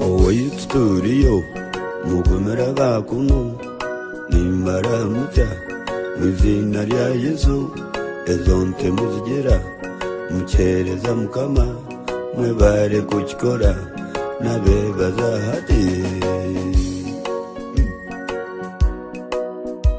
Owaitu turiyo mugumira aha kunu nimbaramukya omu iziina rya Yesu ezo nte muzigira mukyereza Mukama mwebare kukikora nabebaza hati.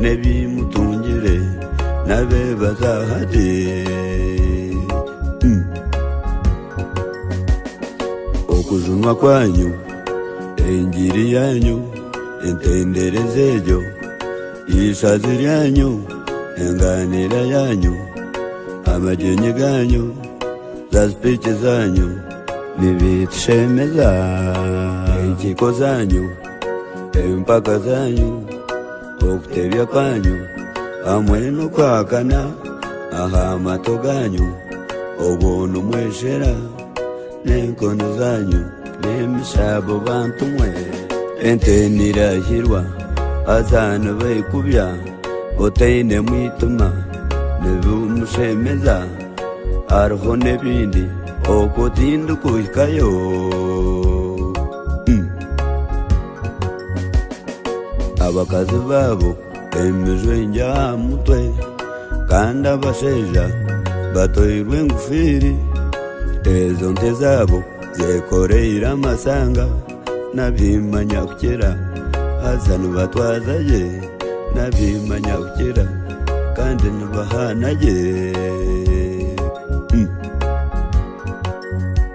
n'ebimutungire nabebaza ati, Okujunwa kwanyu, engiri yanyu, entendereza egyo, eishazi ryanyu, engaaniira yanyu, amagyenyi ganyu, zazipiiki zanyu, nibitushemeza, enkiiko zanyu, empaka zanyu okutebya kwanyu hamwe n'okwahakana aha mato ganyu obwo nimweshera n'enkoni zanyu n'emishabo bantu mwe ente nirahirwa haza nibaikubya otaine mwitima nibimushemeza hariho n'ebindi oku tindikuhikayo Abakazi baabo emijwengye aha mutwe, Kandi abashaija batoirwe engofiiri, Ezo nte zaabo zekoreire amashaanga, Nabiima Nyakukira haza nibatwaza gye, Nabiima Nyakukira kandi nibahaana gye.